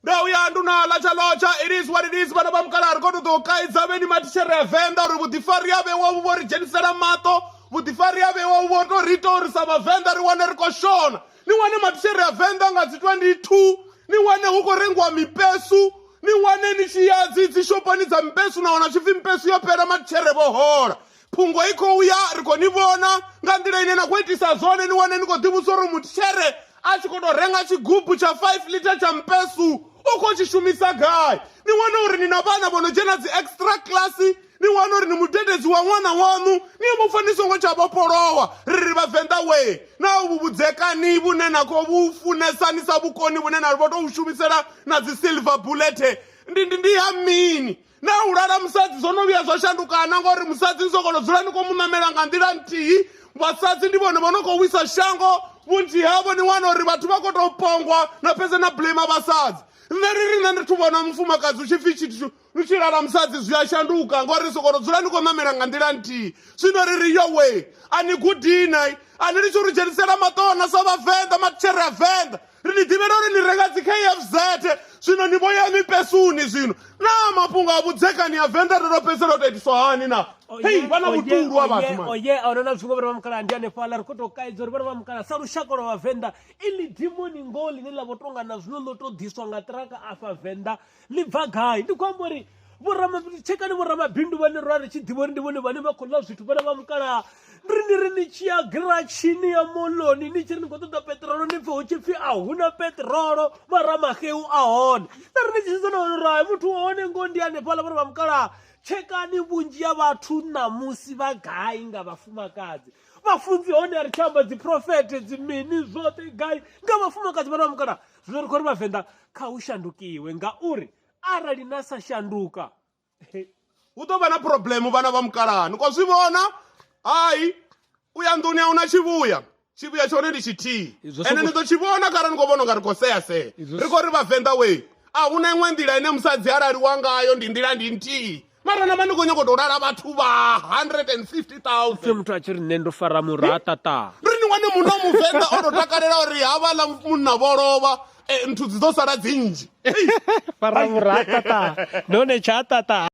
ndo uya ndu na latsha lotsha it is what it is vhana vha mukala ri koto ḓo kaidza vheni mathishere a venḓa uri vhuḓifari a vhewa vhu vho ri dzhenisela maṱo vhuḓifari a vhewa vhu vho to ri ita uri sa vhavenḓa ri wane ri khou shona ni wane mathishere a venḓa nga dzi 22 ni wane hu khou rengiwa mipesu ni wane ni tshi ya dzi dzi shophoni dza mipesu na wana tshipfi mipesu yo fhela mathishere vho hola phungo i khou ya ri khou ni vhona nga nḓila ine na khou itisa zwone ni wane ni khou ḓivhusa uri mutshitshere a tshi khou tou renga tshigubu tsha 5 lita tsha mpesu u khou tshi shumisa gai ni wane uri ni na vhana vho no dzhena dzi extra class ni wane uri ni mudededzi wa ṅwana waṋu ni mu pfa ni songo tsha vhofholowa ri ri vhavenḓa wee na uvhu vhudzekani vhune na khou vhu funesa ni sa vhukoni vhune na vho tou shumisela na dzi silver bullet ndi ndi ndi ha mini na u lala musadzi zwo no vhuya zwa shandukana ngori musadzi ni sokono dzula ni khou mu ṋamela nga nḓila nthihi vhasadzi ndi vhone vho no khou wisa shango vhunzhi havho ni wana uri vhathu vha khou tou pongwa na fhedza na blame vhasadzi nṋe ri ri nṋe ndi thu vhona mufumakadzi u tshi pfhi tshithu lu tshi lala musadzi zwi a shanduka ngori sokono dzula ni khou ṋamela nga nḓila nthihi zwino ri ri yowe a ni gudinai a ni litshi uri dzhenisela maṱona sa vhavenḓa matshera a venḓa ri ni ḓivhela uri ni renga dzi kfz zwino ni vho ya mipesuni zwino naa mafhungo a vhudzekani a venḓa ri ro fhedzisela u tou itiswa hani na hei vha na vhuṱulu a vhathu mani oye a huna na zwingo vhana vha mukala ndi hanefhaḽa ri khou tou kaidza uri vhana vha mukala sa lushaka lwa vhavenḓa ili dimoni ngoho ḽine ḽa vho tonga na zwino ḽo tou ḓiswa nga ṱiraka afha venḓa ḽi bva gai ndi khou amba uri tshekani vhoramabindu vhane ra ri tshi ḓivha uri ndi vhone vhane vha khou ḽa zwithu vhana vha mukalaha ri ni ri ni tshi ya giratshini ya moloni ni tshi ri ni khou ṱoḓa peṱirolo ni pfhe hu tshi pfhi a huna peṱirolo mara maxeu a hone na ri ni tshi sedza na wana uri hai muthu wa hone ngoho ndi hanefhaḽa vhana vha mukalaha tshekani vhunzhi ha vhathu ṋamusi vha gai nga vhafumakadzi vhafunzi hone a ri tshi amba dziprofete dzimini zwoṱhe gai nga vhafumakadzi vhana vha mukalaha zwino ri khou ri vhavenḓa kha hu shandukiwe ngauri arali na sa shanduka hu ḓo vha na problemu vhana vha mukalaha ni khou zwi vhona hai u ya nḓuni a hu na tshivhuya tshivhuya tshone ndi tshithihi ende ni ḓo tshi vhona kharali ni khou vhona unga ri khou sea sea ri khou ri vhavenḓa wee a hu na iṅwe nḓila ine musadzi a laliwa ngayo ndi nḓila ndi nthihi mara na vha ni khou nyoko tou lala vhathu vha 150000 muthu a tshi ri nṋe ndo fara mura a tata ri ni wane muno muvenḓa o tou takalela uri havha ḽa munna vho lovha eh, nthu dzi ḓo sala dzinzhi fara mura a tata none tsha tata